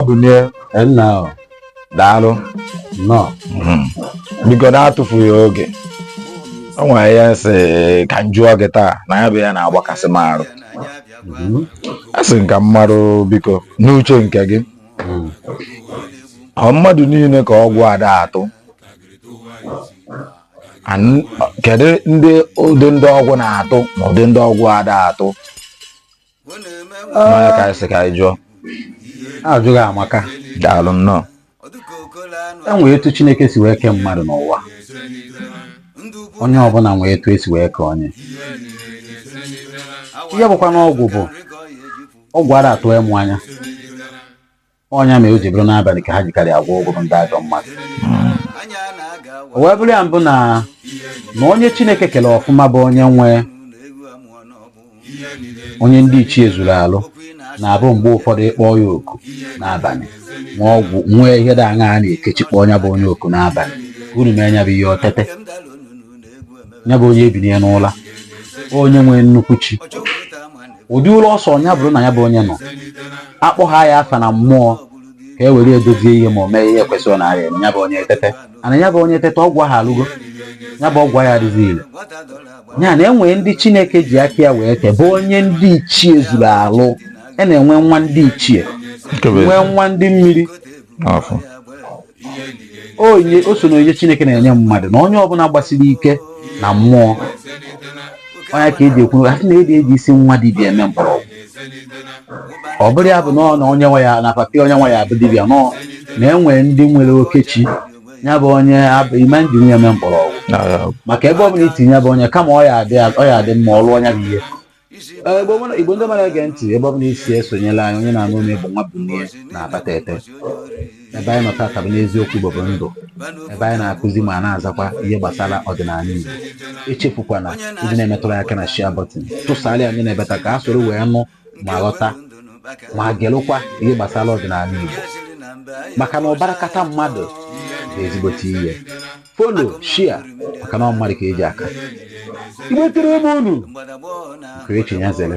Bunie nna daalụ nnọọ biko na-atụfughị oge o nwere ihe m sị ka m jụọ gị taa na ya bụ ihe na-agbakasị m arụ a sị m ka m marụ biko n'uche nke gị ọ mmadụ niile ka ọgwụ ada atụ kedu ụdị ndị ọgwụ na-atụ na ụdị ndị ọgwụ ada atụ na ọ nya ka anyị sị ka anyị jụọ ajụjụ gị amaka daalụ nnọọ e nwee etu chineke si wee kee mmadụ n'ụwa onye ọbụla nwee etu e si wee kee onye ihe bụkwa na ọgwụ bụ ọgwụ ara atụ ịmụ anya ọ nya mere o ji bụrụ n'abalị ka ha jikarị agwọ ọgwụ bụ ndị ajọ mmadụ o wee bụrụ ya bụ na na onye chineke kere ọfụma bụ onye nwe onye ndị ichie zuru alụ na-abụ mgbe ụfọdụ ị kpọọ ya oku n'abalị ma ọgwụ nwee ihe dị aṅa a na-ekechi kpọọ nya bụ onye oku n'abalị ka unu mee nya bụ ihe o tete ya bụ onye ebinie n'ụla onye nwere nnukwu chi ụdị ụlọ ọsọ nya bụrụ na ya bụ onye na a kpọhaa ya afa na mmụọ ka e were edozie ihe ma o mee ihe kwesịrị na arịa ya bụ onye etete and ya bụ onye tete ọgwụ ahụ alụgo ya bụ ọgwụ ya adịghị ile ya na e nwee ndị chineke ji aka ya wee kee bụ onye ndị ichie zuru alụ a na-enwe nwa ndị ichie nwee nwa ndị mmiri onye o so n'ihe chineke na-enye mmadụ na onye ọbụla gbasiri ike na mmụọ ọ nya ka e ji ekwu a sị na eji eji isi nwa dibịa eme mkpọrọgwụ ọ bụrọ ya bụ na ọ na onye nwe ya na papa onye nwe ya bụ dibịa no na e nwe ndị nwere oke chi ya bụ onye abụ ime e jiri ya eme mkpọrọgwụ maka ebe ọbụla i tinye ya bụ onye kama ọ ya adị ọ ya adị mma ọlụ ọ nya bụ ihe Igbo ndị ọma na-ege ntị ebe ọ bụla i si esonyela anyị onye na-anụ olu m bụ nwa Bunie n'Abatete ebe anyị nọ tata bụ n'eziokwu Igbo bụ ndụ ebe anyị na-akụzi ma na-azakwa ihe gbasara ọdịnala Igbo echefukwana ị na-emetụrụ aka na share button tụsara anyị n'ebe te aka a soro wee nụ ma ghọta ma gelụkwa ihe gbasara ọdịnala Igbo maka na ụbara kata mmadụ bụ ezigbote ihe follow share maka na ọ mmadụ ka e ji aka Igbo tere m unu nke echi nya zere.